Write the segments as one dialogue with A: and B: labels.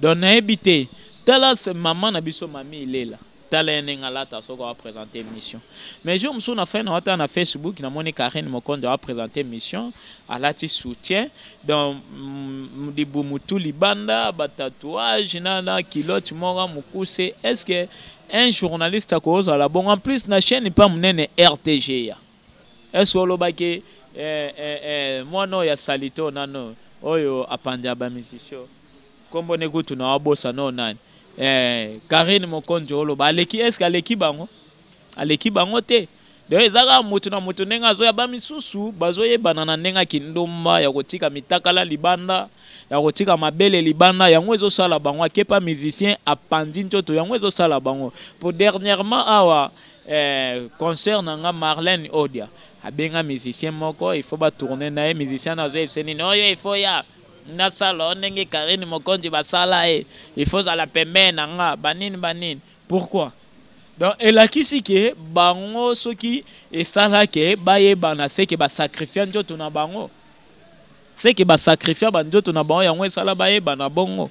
A: donc nayebi te tala maman na biso mami ilela tala ye ndenge alata soki apresente émission mais jour mosusu na fai na watala na facebook namoni karine mokonzo apresente émission alati soutien donc mm, libu motu libanda batatouage na, na kilote moko mokuse est ce que un journaliste akozala bongo en plus na chaîne mpa monene rtga Est-ce que olobaki eh, eh, eh, mwana oyo ya salito nano oyo apanza ba misisio kombo ne kutu na wabosa no nani eh, Karine Mokonzi oloba aleki est-ce que aleki bango aleki bango te donc eza kaka motu na motu ndenge azoya ba misusu bazoyebana na ndenge ya kindumba ya kotika mitakala libanda ya kotika mabele libanda yango ezosala bango akepa musicien apanzi nzoto yango ezosala bango po dernièrement awa Eh, concert na nga Marlène Odia abenga musicien moko il faut ba tourner na ye musicien azo yebisa nini oyo oh, il faut ya na sala ndenge Karine Mokonzi basala ye eh. il faut zala pembeni na nga banini banini pourquoi donc elakisi ke bango soki esala ke bayebana se ke basakrifia nzoto na bango se ke basakrifia banzoto na bango yango esala bayebana bongo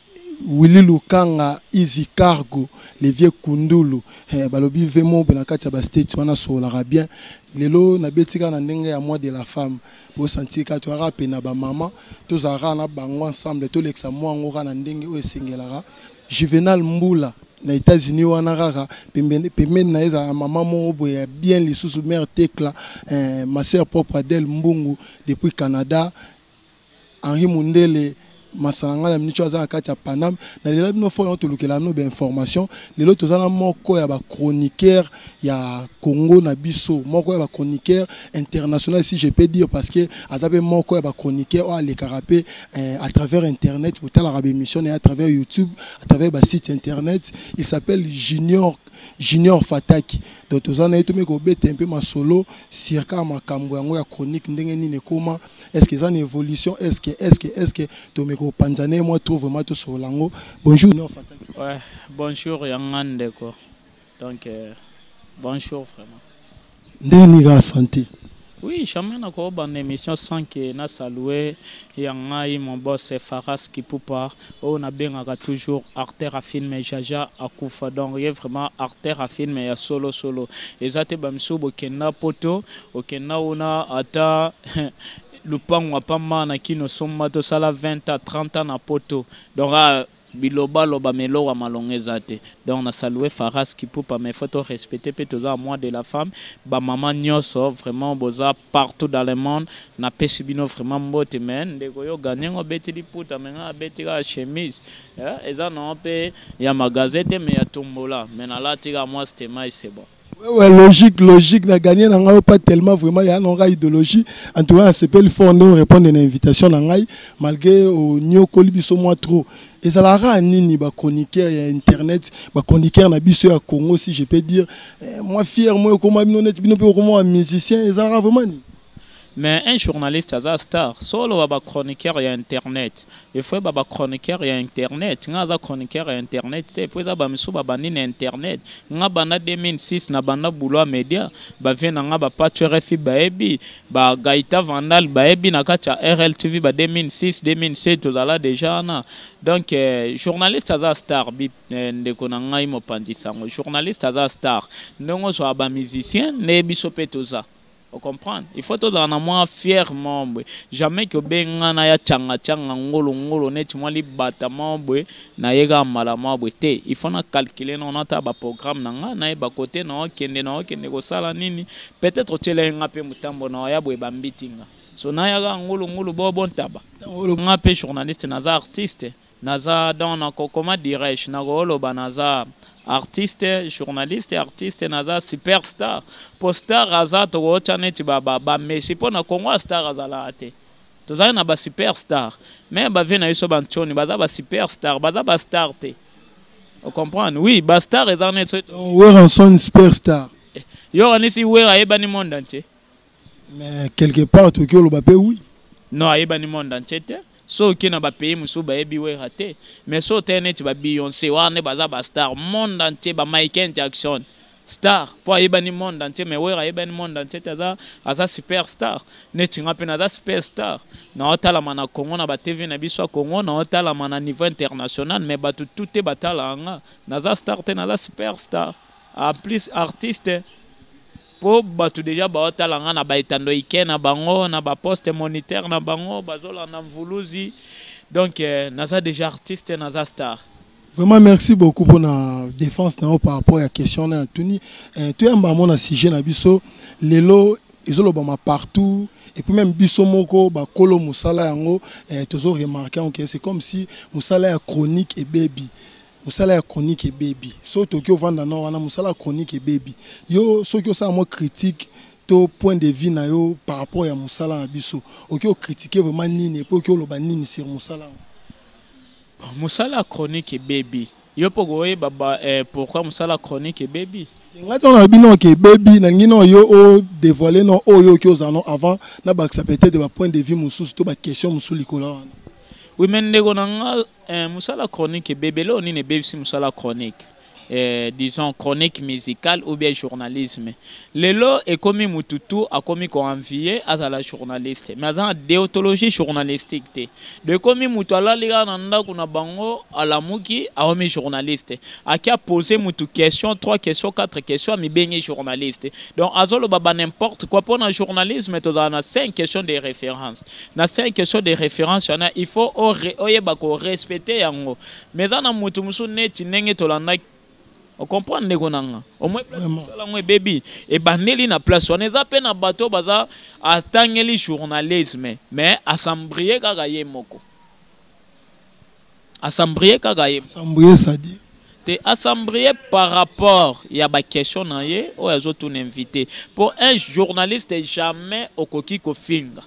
B: Willy Lukanga, Easy Cargo, les vieux Kundulu, eh, balobi Vemob na kati ya ba states wana sololaka bien. Lelo na beti kaka na ndenge ya mois de la femme. Bo sentir kaka toyaka pe na ba maman, tozala kaka na bango ensemble, tolekisa mois yango kaka na ndenge oyo esengelaka. Juvenal Mbula na Etats-Unis wana kaka pembeni pembeni na ye ezala maman moko boye ya bien lisusu mère Tekla, eh, ma sœur propre Adèle Mbungu depuis Canada. Henri Mundele masala ngai na minicho aza na kati ya Paname na lela bino fort yango tolukela bino ba information lelo toza na moko ya ba chroniqueur ya Congo na biso moko ya ba chroniqueur international si je peux dire parce que aza pe moko ya ba chroniqueur oyo alekaka pe eh, à travers internet botalaka ba émission na à travers YouTube à travers ba site internet il s'appelle Junior Junior Fataki donc toza na ye tomeki kobeta un peu masolo circa makambo yango ya chronique ndenge nini ekoma est-ce que eza na évolution est-ce que est-ce que est-ce que tomeka kopanza na ye mwa trop vraiment tosolola yango bonjour neo fataki ouais, bonjour
A: ya nga ndeko donc euh, bonjour vraiment ndenge nini
B: kaka santé Oui, jamais
A: na ko ban émission sans que na saluer ya ngai mon boss Faras Kipupa Oyo na bengaka toujours acteur ya film jaja akufa donc ye vraiment acteur ya film ya solo solo eza te ba misusu bokenda poto okenda una ata lupangu ya pa mana kin osomba to sala 20 ans 30 ans na poto donc ah biloba loba mais eloko ya malonga eza te donc na salue faras kipupa mais faut to respecter pe toza na mois de la femme ba maman nioso vraiment boza partout dans le monde na pesi bino vraiment mbote mais ndeko yo gagne ngo beti liputa mais nga beti ka chemise eh, eza na pe ya magasin te mais ya tombola mais na lati ka moi c'était mai c'est bon Ouais, ouais, logique,
B: logique. Na gagné na ngai pas tellement vraiment ya na ngai idéologie. En tout cas, c'est pas le fort non répondre à une invitation na ngai malgré au nyokoli biso moi trop. ezalaka kaka nini ba chroniqueur ya internet ba chroniqueur na biso ya congo si je peux dire eh, mwa fier moi okoma bino neti bino mpe okoma ba musicien ezalaka vraiment nini mais un
A: journaliste aza star solo ba ba chroniqueur ya internet efo ba ba chroniqueur ya internet nga aza chroniqueur ya internet te po eza bamisu babandi na internet nga banda 2006 na banda bouloi media bavie na nga bapatu rfi bayebi ba Gaita Vandal bayebi na kati ya RLTV ba 2006 2007 tozala deja wana donc eh, journaliste aza star bi eh, ndeko na ngai mopanzi sango journaliste aza star ndenge ozwa ba musicien nde biso mpe toza ocomprendre il faut tozala na mwa fiere moko boye jamais kobengana ya changa changa ngolo ngolo neti mwa libata moko boye Na ye kaka mbala mwa bwe te. Il faut na calculer nao na tala ba programmes na nga, na yeba cote nao kende, nao kende ko sala nini. Peut etre otiela ye nga pe mutambo nao ya boye ba mbiti nga. So na ya kaka ngulu ngulu bo bo ntaba. Tango nga pe journaliste naza artiste, naza donc na ko comment dirais je, na ko loba naza artiste, journaliste, artiste, naza super star. Po star aza toko tia neti ba ba ba Messi po na Congo a star azalaka te. Tozali na ba super star. Meme ba vieux na biso ba ntshoni baza ba super star, baza ba star te. O comprendre? Oui, ba star eza net so. Weranson super
B: star. Eh, yo kanisi
A: Wera ayebani monde entier. Mais
B: quelque part toki oloba pe oui. Non, ayebani
A: monde entier te. So oke na ba pays mosusu bayebi Wera te. Mais so te neti ba Beyoncé wana baza ba star monde entier, ba Michael Jackson. star po ayebani monde entier mais wera ayebani monde entier te aza, aza super star neti nga mpe naza super star naotalama na congo na batv na biso ya congo naotalama na niveau international mais bato tout te batalaka nga naza star te naza super star en plus artiste mpo bato deja baotala nga na baetando ike na bango na baposte moniteur na bango bazolanda mvuluzi donc eh, naza deja artiste naza star Vraiment merci
B: beaucoup pour la défense na par rapport à question na tuni. Euh, tu as mbamo na sujet na biso lelo ezolobama partout et puis même biso moko ba kolo musala yango euh, tozo remarquer que okay, c'est comme si musala ya chronique et baby musala ya chronique et baby so toki ovanda na wana musala chronique et baby yo soki osala mwa critique to point de vue na yo par rapport ya musala na biso oki ocritiquer vraiment nini et puis oki oloba nini sur musala yango
A: Musala ya chronique ebebi. Yo pe okoyeba ba eh, pourquoi musala ya chronique ebebi? Ngai ntango nalobi no
B: ke ebebi nalingi no yo o devoile no oyo oki ozala no avant nabakisa peut-être ba point de vue mosusu to ba question mosusu likolo ya wana. Oui mais ndeko
A: na nga eh, musala ya chronique ebebi. Eloko nini ebebisi musala ya chronique? eh, disons chronique musicale ou bien journalisme lelo ekomi mutu tout akomi ko envier azala journaliste mais aza na deontologie journalistique te do ekomi mutu alali kaka na ndako na bango alamuki aomi journaliste aki apose mutu question 3 question 4 question amibengi journaliste donc azoloba ba n'importe quoi mpo na journalisme tozala na 5 question de référence na 5 question de référence wana il faut oyeba korespecte yango Mais eza na mutu mususu neti ndenge tolandaki o comprendre ndeko nanga omoi place mosala yango ebebi ebandeli na place wana eza mpe na bato oyo baza atangeli journalisme mais asambrie kaka ye moko asambrie kaka ye asambrie sadi
B: te asambrie
A: par rapport ya baquestion na ye oyo azotuna invité mpo un journaliste jamais okoki kofinga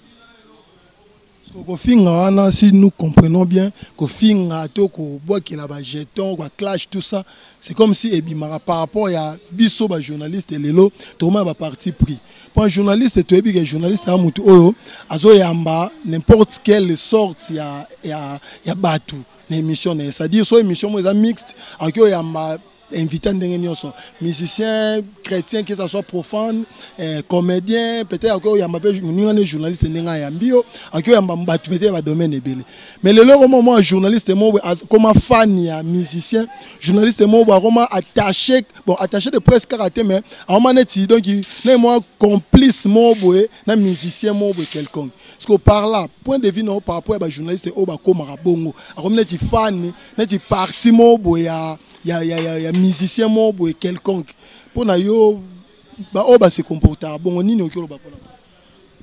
A: kofinga
B: wana si nous comprenons bien kofinga to kobwakela ba jeton ba clash tout ça c'est comme si ebimaka par rapport ya biso ba journaliste lelo tokomaka ba parti pris mpo un journaliste toyebi ke journaliste ya motu oyo azoyamba n'importe quelle sorte ya, ya, ya bato na émission na ye c'est-à-dire so émission moko eza mixte akoki oyamba invité ndenge nyonso musicien chrétien que ça soit profane eh, comédien peut-être akoki oyamba mpe moninga ne journaliste ndenge ayambi yo akoki oyamba bato peut-être badomaine ebele mais lelo koma mwa journaliste moko boye akoma fan ya musicien journaliste moko boye akoma attaché bon attaché de presse kaka te mais akoma neti donc na mwa complice moko boye na musicien moko boye quelconque parce que par là point de vue na yo par rapport ya bajournaliste oyo bakomaka bongo akomi neti fan neti parti moko boye ya, ya, ya, ya, ya musicien moko boye quelconque mpo na yo baoyo base comportaka bongo nini okoki oloba mpona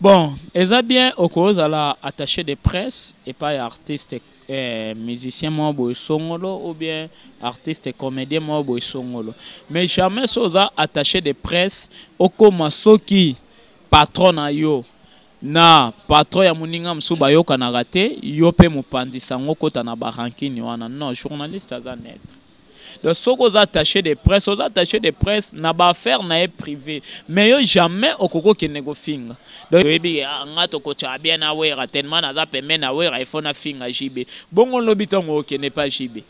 B: bon
A: eza bien okozala attaché de presse epai ya artiste eh, musicien moko boye songolo ou bien artiste comédien moko boye songolo mais jamais so oza attaché de presse okoma soki patron na yo Na patron ya muninga mususu bayokanaka te, yo pe mupanzi sango okota na ba rancune wana non journaliste aza neutre. Donc soki oza attache de presse oza attache de presse na ba affaires na ye privee mais yo jamais okoki okende kofinga donc oyebi ke ah nga tokotshaka bien na werra tellement naza pembeni ya werra il faut nafinga JB bongo lobi tango okende epa JB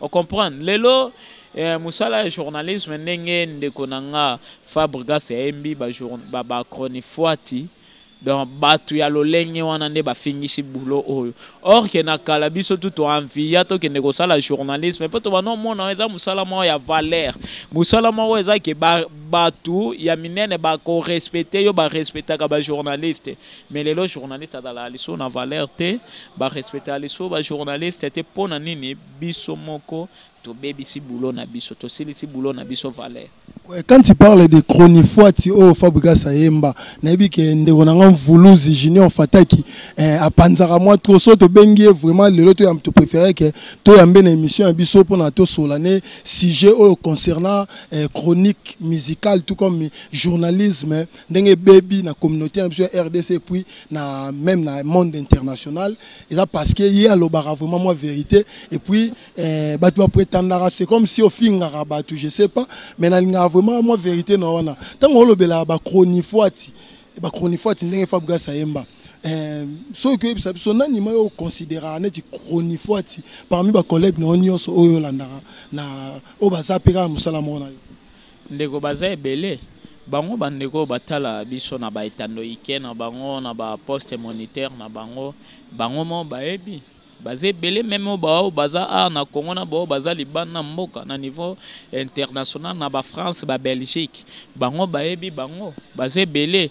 A: O comprendre lelo eh, musala ya journalisme ndenge ndeko na nga Fabregas ayembi ba, ba, ba chronifuati donc batu ya lolenge wana nde bafingisi boulot oyo or ke na kala biso tu toanviya tokende kosala journalisme mpo tobanda omona eza mosala moko ya valeur mosala moko eza ke batu ya minene bakorespecte yo barespectaka bajournaliste Mais lelo journaliste azalaka lisusu na valeur te, ba respectaka lisusu ba journalistes te pona nini? Biso moko tobebisi boulot na biso, tosilisi boulot na biso valeur. Ouais, quand tu parles
B: de chronifuati oyo oh, Fabregas ayemba, nayebi ke ndeko na nga Mvuluzi Junior Fataki eh, apanzaka mwa trop so tobengi ye vraiment lelo to to préfère ke toyambe na émission ya biso mpo na tosola ne sujet oyo concernant eh, chronique musicale tout comme journalisme ndenge ebebi na communauté na biso ya rdc puis na même na monde international eza parce que ye alobaka vraiment mwa vérité et puis eh, bato bapretandaka c'est comme si ofingaka bato je sais pas mais nalingaka vraiment mwa vérité na wana ntango olobelaka bachronifuati bachronifuati ndenge fabrigas ayemba eh, soki koyebisa biso nani ma yo oconsideraka neti chronifuati parmi bacollègue na yo nyonso oyo olandaka na oyo baza mpe kaka mosala moko na yo Ndeko
A: baza ebele bango ba ndeko oyo batala biso na ba etando ike na bango na ba poste moniteur na bango bango moko bayebi baza ebele meme oyo ba oyo baza awa na Congo na ba oyo baza libanda na mboka na niveau international na ba France ba Belgique bango bayebi bango baza ebele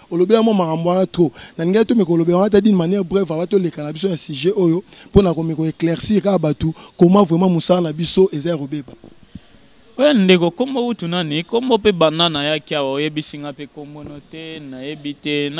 B: olobela mwa makambo wana trop nalingaki tomeka kolobela wana ta dine manière breve aba toleka na biso na sujet oyo mpo na komeka koeclaircir kaka bato koma vraiment mosala na biso eza ya kobeba oya
A: ndeko kombo utu nani kombo mpe banda nayaki awa oyebisi nga mpe kombono te nayebi te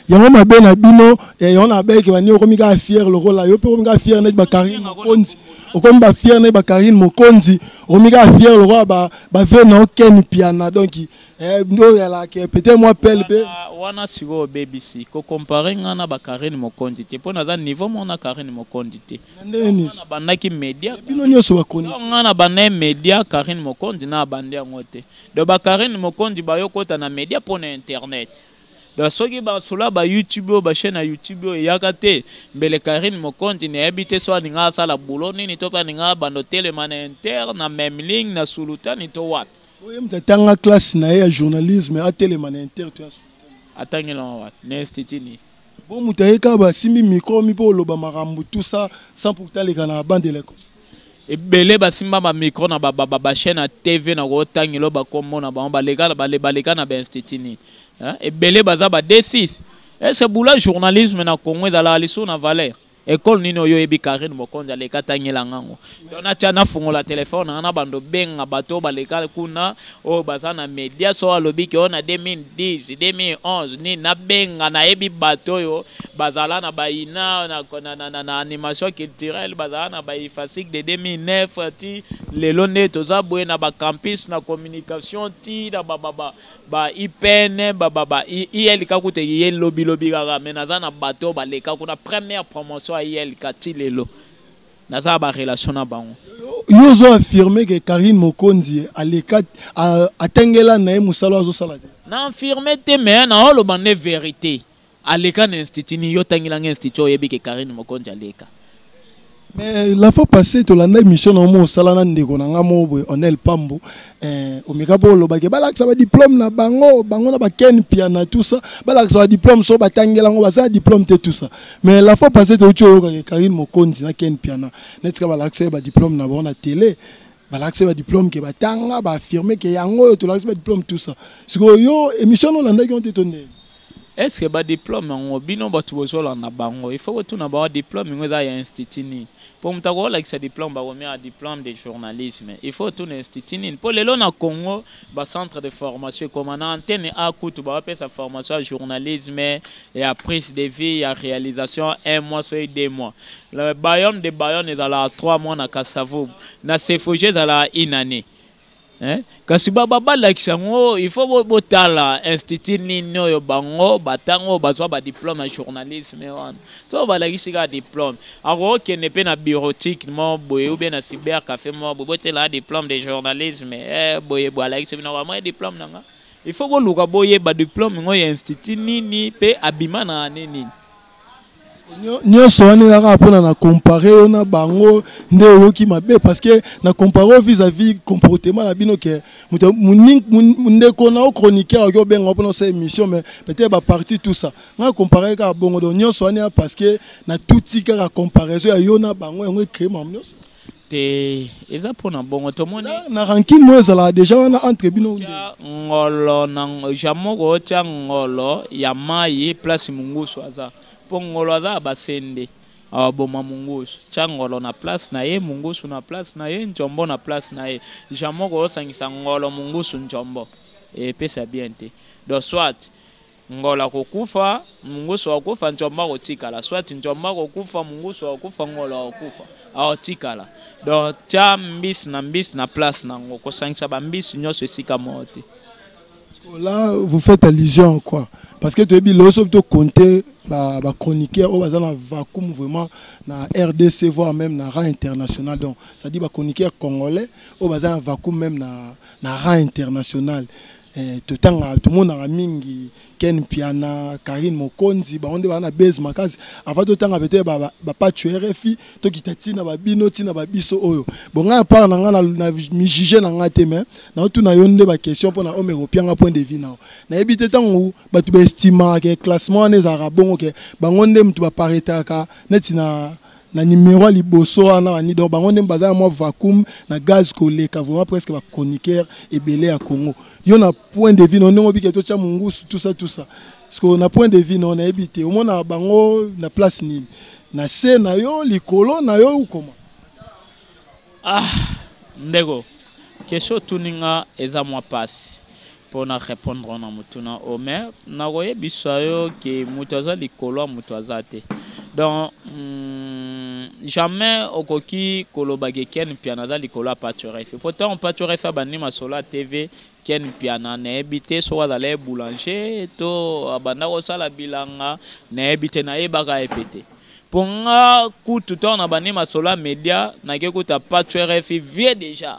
A: yango mabe
B: na bino eh, yango nabeke bani okomi kaka fiere lokola yo mpe okomi kaka fiere neti bakarine mokonzi okomi bafiere neti bakarine mokonzi okomi kaka fiere lokola bavie na okeni piana donki Eh, ndo ya la ke peut-être moi pelle pe. Wana siko
A: obebisi ko comparer nga na ba Karine Mokonzi te pona za niveau mona Karine Mokonzi te. Ndeni. Na bandaki media. Bino nyoso ba koni.
B: Nga na bande media
A: Karine Mokonzi na bande yango te. Do ba Karine Mokonzi ba yokota na media pona internet. Do soki ba sula ba YouTube ba chaîne ya YouTube oyo yaka te mbele Karine Mokonzi na yebi te so alinga asala boulot nini to pa ninga bando telema na inter na même ligne na sulutani to wapi. Oye moto atanga
B: classe na ye ya journalisme atelema na inter to ya atangelama
A: wapi na institut nini bo moto aye
B: kaka basimbi micro mi mpo oloba makambo tout ça sans pourtant aleka na bande de l'école ebele
A: basimba bamicro na bachaine ya tv na kotangelo bakombo na bango baleka na bainstitut nini ebele baza ba d6 ese bula journalisme na congo ezalaka lisusu na valeur Ecole nini oyo oyebi Carine Mokonzi aleka tangela nga ngo. Donc na tia na fungola telephone na bando benga bato baleka kuna oyo baza na media so alobi ke ona 2010 2011 ni na benga na yebi bato oyo bazala na baina na na na na, na animation culturelle bazala na ba ifasic de 2009 ti lelo nde toza boye na ba campus na communication ti na ba ba ba IPN ba ba ba ILK kutu ye lobi lobi kaka mais naza na bateau ba leka kuna première promotion à ILK ti lelo naza ba relation na bango yo ozo
B: affirmer que Karine Mokonzi aleka atengela na ye musala azo sala te na affirmer te
A: mais na oloba nde vérité Aleka na institut ni yo tangela nga institut oyebi ke Karine Mokonzi aleka. Mais
B: la fois passée tolanda émission na mo osala na ndeko na nga mo boye Onel Pambo eh, omeka mpo olobaki balakisa badiplome na bango bango na baken piana tout ça balakisa badiplome so batangela yango baza diplome te tout ça mais la fois passée touti oyokaki Karine Mokonzi na ken piana netika balakisa ye badiplome na bango na télé balakisi badiplome ke batanga baaffirme ke yango oyo tolakisi badiplome tout ça sikoyo yo émission no olandaki yango te to ndenge
A: Est ce que ba diplome yango bino batu bozo landa bango il faut ko tuna bango diplome yango eza ya institut nini? Po mutu ako lakisa diplome bako mia ah diplome de journalisme il faut otuna institut nini po lelo na congo ba centre de formation ekoma na antenne a kutu bazo pesa formation ya journalisme ya prise de vie ya realisation un mois soki deux mois le bayonne de bayonne ezalaka trois mois na kasa vubu na cefoge ezalaka une annee Eh? kasi balakisa yango il faut botala institut nini oyo bango batango oyo bazwa badiplome ya journalisme wana so balakisi kaka diplome akokokende mpe na bureautique mo boye ube na cyber café mo boye botela diplome de journalisme eh, boye boye alakisi bino kamwa diplome na nga il faut boluka boyeba diplome ngo ya institut nini mpe abima na ane nini
B: nyonso wana eza kaka mpona na compare yo na bango nde oyoki mabe parce que na compare yo vis à vis comportement na bino ke ndeko na yo chroniqueur oki obenga mpona osa émission mais peut-être baparti tout ça ngai compare kaka bongo donc nyonso wana ya parce que natuti kaka comparaison ya yo na bango yango ecree mamo nyonso te
A: eza pona bongo tomoni na rankine moyo ezalaka
B: deja wana entre bino ngolo
A: na jamoko otya ngolo ya mai place mungusu aza mpo ngolo aza ya basende aboma mungusu tya ngolo na place na ye mungusu na place na ye njombo na place na ye jamoko osangisa ngolo mungusu njombo epesa bien te do soit Ngola akokufa, Mungusu akokufa, Ntshombo akotikala. Soit Ntshombo akokufa, Mungusu akokufa, Ngola akokufa. Akotikala. Donc tia mbisi na mbisi na place na yango. Kosangisa ba mbisi nyonso esika moko te. Là,
B: vous faites allusion à quoi Parce que tu as dit, lorsque tu compter bah, bah, chroniqueur, on va dans vacuum vraiment, na RDC, voire même na rang international. Donc, ça dit, bah, chroniqueur congolais, on va dans vacuum même na, na rang international. Eh, totanga tomonaka mingi ken piana karine mokonzi bango nde baa na base makasi avant totanga pete bapacho ba rfi tokita ntina babino ntina babiso oyo bon ngai apart na ngai na mijuge na ngai te mai naotuna yo nde baquestion mpona ome kopianga point de vie nao nayebi te ntango bato baestimaka ke classement wana ezalaka bongo ke bango nde moto baparetaka neti na na numero ya liboso wana bani donc bango nde baza na mwa vacuum na gaz koleka vraiment presque bachroniqueur ebele ya congo yo na point de vue no ndenge obike totya mongusu tusa tusa parceke na point de vue no nayebi te omonaka bango na place nini na se na yo likolo na yo ukoma ah
A: ndeko kesho otuninga eza mwa mpasi Mpo na repondre na motuna oyo, mais nakoyebisa yo ke moto aza likolo ya moto aza te. Donc mm, jamais okoki koloba ke Ken Mpiana aza likolo ya Pacho Refi. Mpo ntango Pacho Refi abandi masolo ya TV, Ken Mpiana nayebi te soki azalaki boulanger to abanda kosala bilanga, nayebi te, nayebaka ye mpe te. Mpo nga kutu ntango nabandi masolo ya media, nake kuta Pacho Refi vieux deja.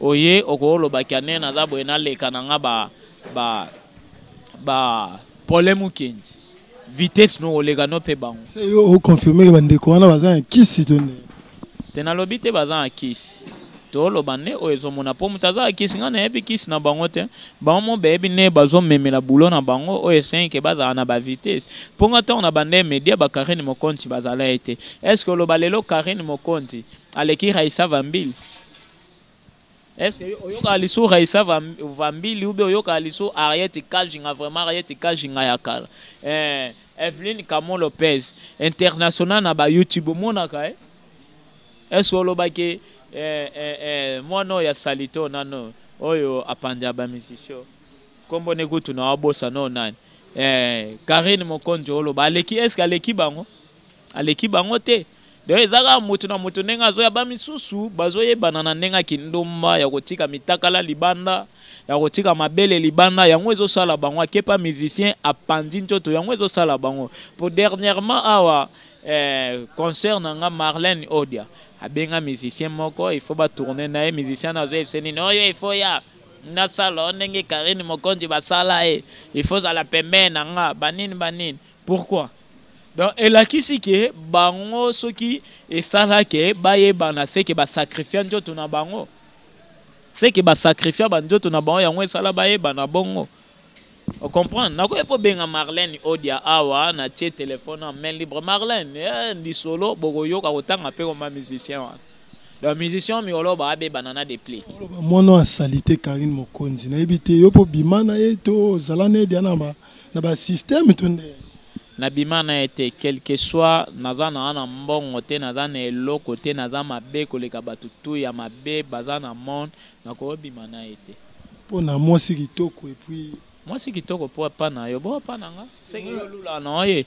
A: Oye okoloba kiane naza boye naleka na nga ba ba ba pole mukendi vitesse no oleka no pe bango. C'est yo o confirmer
B: ba ndeko wana baza na kisi to ne. Te nalobi
A: te baza na kisi. toloba nde oyo ezomona mpo moto aza kisi ngai nayebi kisi na bango te bango mo bayebi nde bazomemela bulo na bango oyo esenke bazala na bavitese mpo ngai ntango na banda media bakarine mokonti bazala ye te estce oloba lelo karine mokonti aleki raisa vambili est-ce que oyoka lisu raisa vambili ube oyoka lisu ariete kajinga vraiment ariete kajinga ya kala eh, evelyn camon lopez international na ba youtube omonaka eh? est-ce que olobaki eh, eh, eh, mwana oyo ya salito nano oyo apanja bamisisio nkombo ne kutu na wabosa no nani eh, karine mokonzi oloba aleki est-ce que aleki bango aleki bango te donc eza kaka moto na moto ndenge azoya ba misusu bazoyebana na ndenge ya kindomba ya kotika mitakala libanda ya kotika mabele libanda yango ezosala bango akepa musicien apanzi ntoto yango ezosala bango po dernièrement awa eh, concert na nga marlene odia abenga musicien moko il faut batourne na ye musicien na azoyebisa nini oyo il faut ya nasala ndenge karine mokonzi basala ye il faut zala pembee na nga banini banini Pourquoi? Donc elakisi ke bango soki esala ke bayebana seke ba sacrifia nzoto na bango seke ba sacrifia ba nzoto na bango yango esala bayebana bongo o comprendre nakoki mpo benga Marlène Odia awa na tie telefone na main libre Marlène eh, lisolo bokoyoka kotanga mpe koma musicien wana donc musicien mikoloba abebana na deplique mwana ya salite
B: Karine Mokonzi nayebi te yo mpo bima na ye to zala na ye dia na ba na ba système to nde na bima
A: na ye te quelque soit naza na wana mbongo te naza na eloko te naza mabe koleka bato tu ya mabe baza na monde nakobima na ye te mpo na mwasi
B: kitoko epuis mwasi kitoko mpo
A: epa na yo bo epa na nga seke yo olula na oye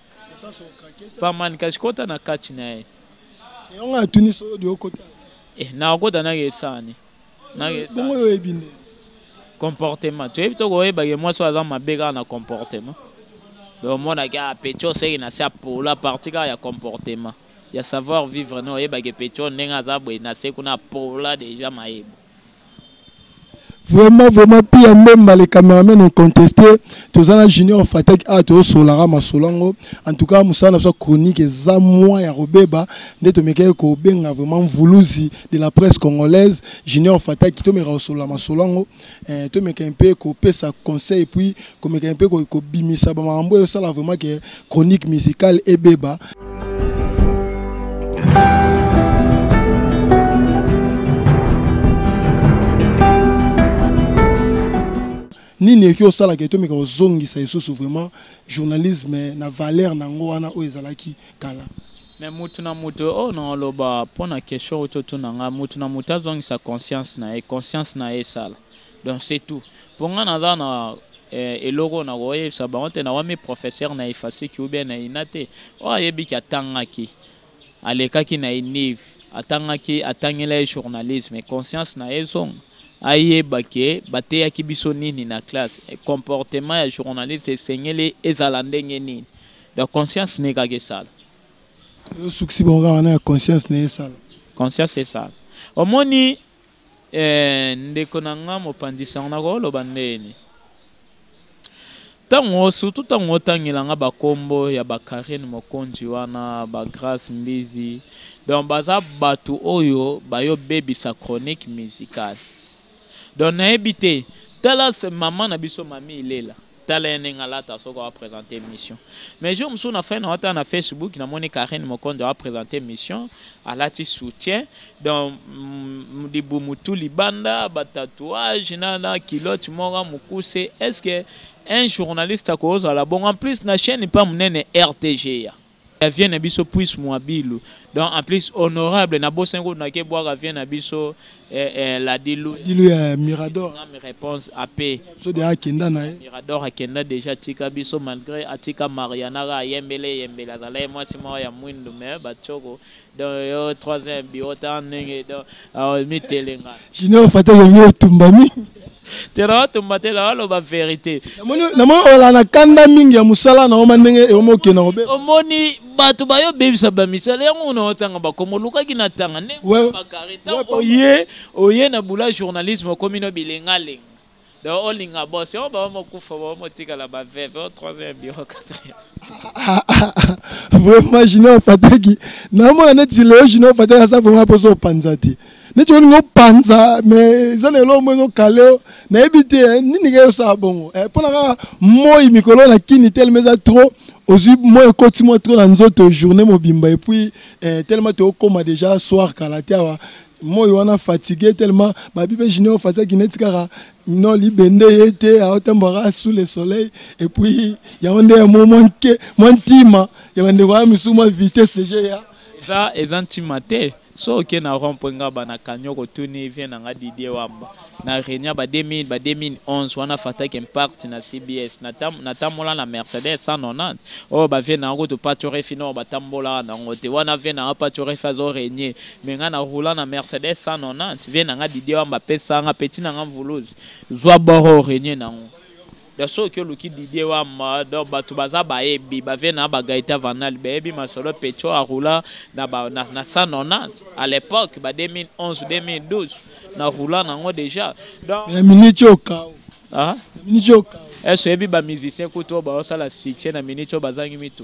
B: pa man kasi kota na
A: kati na ye yango atuni
B: solo di okota eh nakokota
A: nake esani nake bongo yo oyebi nde
B: comportement
A: toyebi to koyebake mwasi oyo aza mabe kaka na comportement donc omonaki a ah, petio seki na se apola parti kaka ya comportement ya savoir vivre no oyebake petio ndenge aza boye na se kuna apola deja mayebo vraiment
B: vraiment pia mbemba le cameraman incontesté toza na junior fataki awa tozosolaka masolo yango en tout cas mosala na biso ya chronique eza mwa ya kobeba nde tomekaki kobenga vraiment mvuluzi de la presse congolaise junior fataki tomeka kosolola masolo yango eh, tomeka mpe kopesa conseil puis komeka mpe kobimisa bamakambo oyo osala vraiment ke chronique musicale ebeba nini eki osalaka etomeka kozongisa lisusu vraiment journalisme na valeur na yango wana oyo ezalaki kala me mutu na
A: mutu oyo oh, naoloba mpo na question oyo totuna ngai mutu na mutu azongisa conscience na ye conscience na ye esala donc c'est tout mpo ngai naza na eh, eloko na koyebisa bango te nawami professeur na efasiki ou bien na ina te oyo ayebiki atangaki alekaki na inive atangaki atangela ye journalisme conscience na ye ezonga ayeba ke bateyaki biso nini na classe comportement ya journaliste esengeli ezala ndenge nini donc conscience na ye kaka esala
B: osukisi bango kaka wana ya conscience na ye esala conscience esala
A: omoni Ee, ndeko na ngai mopanzi sango, nakoki oloba ndeni? Tango, surtout tango otangela ngai ba kombo ya ba Carine Mokonzi wana, ba Grace Mbizi, donc baza batu oyo bayo bebisa chronique musicale. Donc nayebi te, tala maman na biso Mamie Ilela. Tala ye ndenge alata soki awa presenter emission. Mais jour mosusu na fanda ata na Facebook na moni Carine Mokonzo awa presenter emission alati soutien donc libumu tout libanda ba tatouage na na culotte moko mukuse est-ce que un journaliste akozala bongo en plus na chaine pa munene RTGA. ya vie na biso puisse muabilu donc en plus honorable na bosani ko na ke bwaka vie na biso eh, eh, la dilu dilu ya mirador
B: na mi réponse
A: AP so de akenda na
B: mirador akenda déjà
A: tika biso malgré atika mariana ka yembele yembele azala ye mwasi mwa ya mwindu mais ba choko donc yo trois ans bureau ta ndenge donc euh, mitelenga junior fata
B: yomi otumba mingi tera
A: otumba te la aloba verité namoni ola
B: na kanda mingi ya mosala na oma ndenge eoma okenda kobe omoni bato
A: bayo obebisa bamisala yango na otanga bakoma olukaki na tanga nde bakare ntango oye oye na bula journalisme okomi no bilengalenga Donc olinga boss yo ba mo kufa ba mo tikala ba veve au troisième bureau quatrième.
B: Vraiment Junior Fataki na mona neti leo Junior Fataki asa vraiment poso panza te. Neti olinga opanza mais eza na eloko mozo kaleo na yebi te eh, nini ke osala bongo. Eh pona kaka moi mikolo na kini tellement eza trop ozwi moi ekoti moi trop na nzoto journée mobimba et puis eh, tellement tokoma déjà soir kala te awa moi wana fatigue tellement babi mpe junior fazaki neti kaka no libende ye te aotambwaka sous le soleil et puis yango nde yango mwa nke mwa ntima ya bandeko
A: aya
B: misusu mwa vitesse deja
A: ya
B: eza eza ntima te so
A: oke na rond mpo nga bana kanyoko tuni vie na nga didie wamba na reunion ya ba 2000 ba 2011 wana fataki impact na cbs natambola na mercedes 190 oyo bavie na yango topatorefi nao batambolaka na yango te wana vie na nga patorefi azo renie me nga na roula na mercedes 190 vie na nga didie wamba apesanga peti na nga mvuluzi zwa boro renie na yango Donc soki oluki Didier Wamba, donc batu baza bayebi, ba vie na ba Gaëtan Vanal, bayebi masolo Pecho a roula na ba na, na 190 à l'époque ba 2011 2012 na roula nango déjà. Donc na minute yo kao.
B: Ah, na minute
A: yo kao.
B: Est-ce que ba musiciens
A: kutu ba osala succès na minute yo bazangi mitu?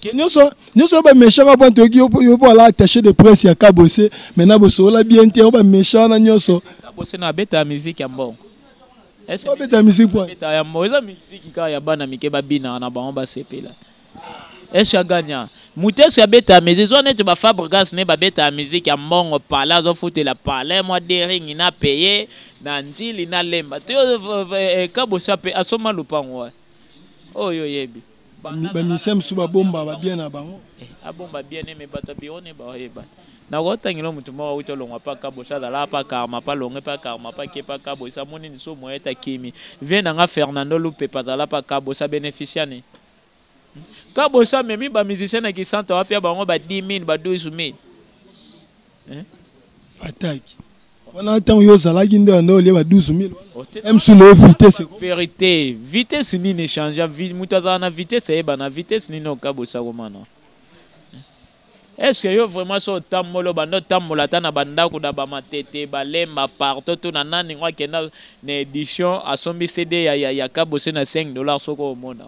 A: ke nyonso
B: nyonso ba méchant wana toyoki yo po ala attaché de presse ya kabose maintenant bosolola bien te ba méchant wana nyonso kabose na abeta
A: musique ya mbongo
B: abeta musique po abeta ya mbongo eza musique
A: kaka ya bana mike babinaka na bango basepela esi aganya moto esi abeta musique zwa neti bafabrigas ne babeta musique ya mbongo pale azofutela pale mwa deringi na paye na njili na lemba te eh, eh, kabosa mpe asoma lopango wana oyo yo oyebi bamisia
B: mosusu babomba babien na bango eh, abomba bien ne
A: me bato ya biro ne baoyeba nakotangela moto moko awuti olongwa mpa kabosi azalaka mpa karma mpa longe mpa karma mpa ke mpa kabosi amoni lisumu ete akimi vie na nga fernando lupepa azala mpa kabosi abenefisia ne kabosi amemi bamusicien na kisanto apia bango ba 10 000 ba 12 000 eh?
B: fataki wana ntango yo ozalaki nde wanda olie ba 12000 wana msule yo vitesse verité vitesse nini
A: echangea moto azala na vitesse ayebana vitesse nini okabosakomana eske yo vraiment so otambola obanda otambola ata na bandako na bamatete balemba partout to na nani ngo akenda na édition asombi cd ya, ya, ya kabose na 5 dollar soko omona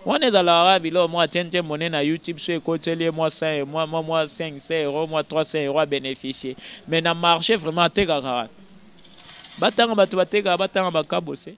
A: Wana ezalaka kaka biloko mwa tien tien monene na YouTube soki ekoteli ye mwa 100 e mwa mwa mwa 500 euros mwa 300 euros a beneficier mais na marche vraiment atekaka wapi? Batanga batu batekaka batanga ba kabose.